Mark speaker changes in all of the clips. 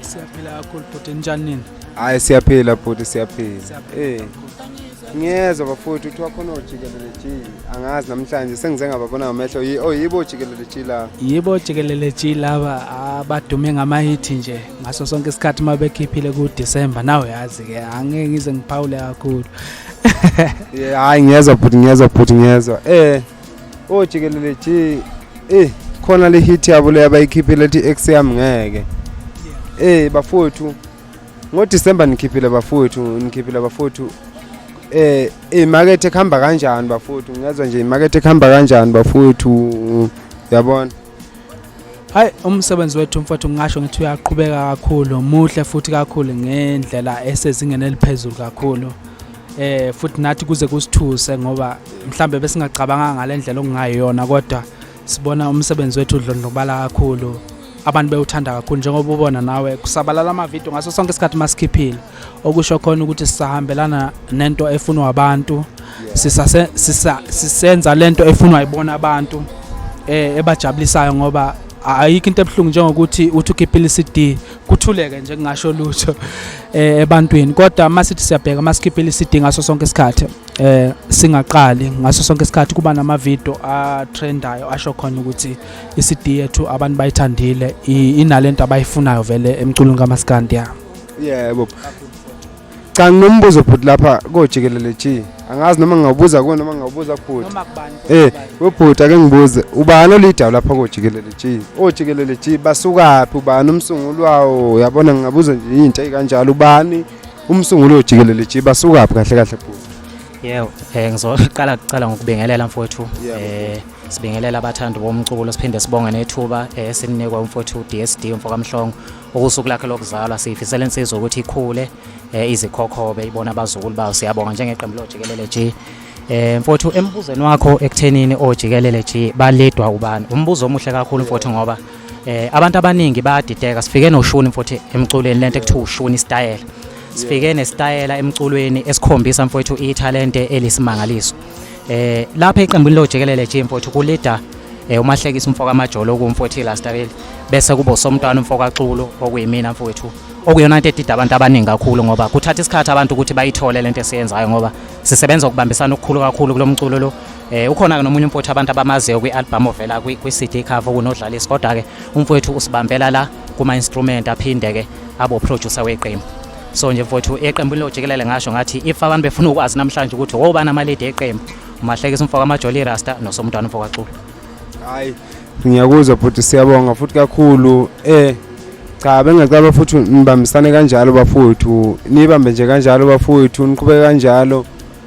Speaker 1: Siyaphila
Speaker 2: kakhulu bhuti njani nini? Hayi siyaphila
Speaker 1: bhuti siyaphila. Eh. Ngiyezwa bafowethu kuthiwa khona ojikelele G. Angazi namhlanje sengize ngababona ngamehlo. Yi- Oh yibo ojikelele G la. Yibo jikelele
Speaker 2: G laba abadume ngamahithi nje ngaso sonke isikhathi uma bekhiphile ku-December nawe yazi-ke angeke ngize ngiphawule kakhulu
Speaker 1: Yeah, hayi ngiyezwa bhuti ngiyezwa bhuti ngiyezwa. Eh. Oh jikelele ji. Eh khona le hit yabo le abayikhiphile ethi ex yami ngeke. Eh bafowethu ngo December nikhiphile bafowethu nikhiphile bafowethu eh imakethe kuhamba kanjani bafowethu ngezwa nje imakethe kuhamba kanjani bafowethu yabona
Speaker 2: hayi umsebenzi wethu mfowethu ngingasho ngithi uyaqhubeka kakhulu muhle futhi kakhulu ngendlela esezingeni eliphezulu kakhulu eh futhi nathi kuze kusithuse ngoba mhlambe besingacabanga ngalendlela okungayona kodwa sibona umsebenzi wethu udlondlobala kakhulu abantu bewuthanda kakhulu njengoba ubona nawe kusabalala ama video ngaso sonke isikhathi masikhiphile okusho khona ukuthi sisahambelana nento efunwa abantu sisase sisa sisenza lento efunwa ibona abantu eh ebajabulisayo ngoba ayikho into ebuhlungu njengokuthi uthi ukhiphile iCD kuthuleke nje kungasho lutho eh ebantwini kodwa masithi siyabheka masikhiphile iCD ngaso sonke isikhathi eh singaqali ngaso sonke isikhathi kuba nama video a trendayo asho khona ukuthi iCD yethu abantu bayithandile inalento abayifunayo vele emculweni kaMaskandi ya yebo
Speaker 1: cha nginombuzo bhuti lapha kojikelele g angazi noma ngingawubuza kuwe noma ngingawubuza kubhuti noma kubani eh
Speaker 2: webhuti ake ngibuze
Speaker 1: ubani olidayo lapha kojikelele g ojikelele g basukaphi ubani umsunguli wawo uyabona ngingabuza nje yintsha ikanjalo ubani umsunguli ojikelele g basukaphi kahle kahle bhuti yebo
Speaker 3: eh ngizoqala kucala ngokubingelela mfowethu eh sibingelela abathandi bomculo siphinde sibonge nethuba esininikwa eh, umfowethu DSD umfokamhlongo Ukusuku lakhe lokuzalwa siyifisela insizwa ukuthi ikhule eh, izikhokhobe ibona abazukulu bayo siyabonga njengeqembu lojikelele G Eh mfowethu embuzweni wakho ekuthenini ojikelele G baledwa ubani umbuzo omuhle kakhulu mfowethu ngoba eh abantu abaningi bayadideka sifike noshuni mfowethu emculweni lento ekuthiwa ushuni style sifike nestayela emculweni esikhombisa mfowethu ithalente elisimangaliso Eh lapha eqembini lojikelele nje mfowethu kulida eh umahlekisa umfoka amajolo okumfowethu Lastabeli bese kubo somntwana umfoka Xulu okuyimina mfowethu okuyona into edida abantu abaningi kakhulu ngoba kuthatha isikhathi abantu ukuthi bayithole lento esiyenzayo ngoba sisebenza ukubambisana okukhulu kakhulu kulomculo lo eh ukhona ke nomunye umfowethu abantu abamaziyo kwi-album ovela kwi-CD cover kunodlalisi kodwa ke umfowethu usibambela la kuma instrument aphinde ke abo producer weqembu so nje mfowethu eqembini lojikelele ngasho ngathi if abantu befuna ukwazi namhlanje ukuthi wobani amalidi eqembu umahlekisa umfo kamajoli irasta nosomntwana umfo kaxulu hayi
Speaker 1: ngiyakuzwa bhuti siyabonga futhi kakhulu eh cha bengacaba futhi nibambisane kanjalo bafowethu nibambe nje kanjalo bafowethu niqhubeke kanjalo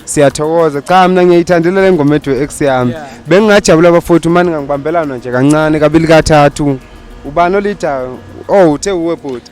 Speaker 1: siyathokoza cha mina ngiyayithandela le ngoma ethu ex yami bengingajabula bafowethu mani ngangibambelana nje kancane kabili kathathu ubani olidayo oh uthe uwe bhuti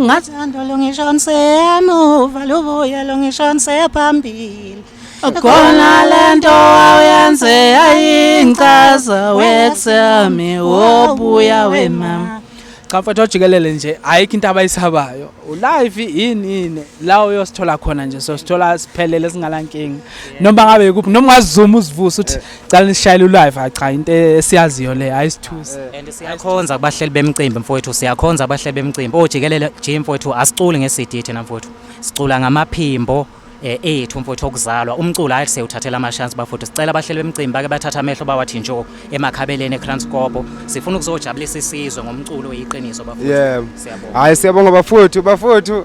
Speaker 4: Ngathanda lo ngisho ngiseyamuva lubuye lo ngisho ngiseyaphambili Akona lento awuyenze ayingichaza wethami wobuya wemama cha mfethu
Speaker 2: ojikelele nje ayikho into abayisabayo ulive yini yini la uyosithola khona nje sosithola siphelele singalankinga noma ngabe kuphi noma ungazuma uzivuse uthi cala nisishayele ulive hayi cha into esiyaziyo le ayisithusi and siyakhonza
Speaker 3: kubahleli bemicimbi mfowethu siyakhonza kubahleli bemicimbi ojikelele nje mfowethu asiculi nge-CD thina mfowethu sicula ngamaphimbo eh, ethu mfowethu okuzalwa umculo hayi sewuthathela amashansi bafowethu sicela abahleli bemicimbi bake bathatha amehlo bawathi njo emakhabeleni ekranskopo sifuna ukuzojabulisa isizwe ngomculo oyiqiniso bafowethu Yeah. siyabonga Hayi siyabonga
Speaker 1: bafowethu bafowethu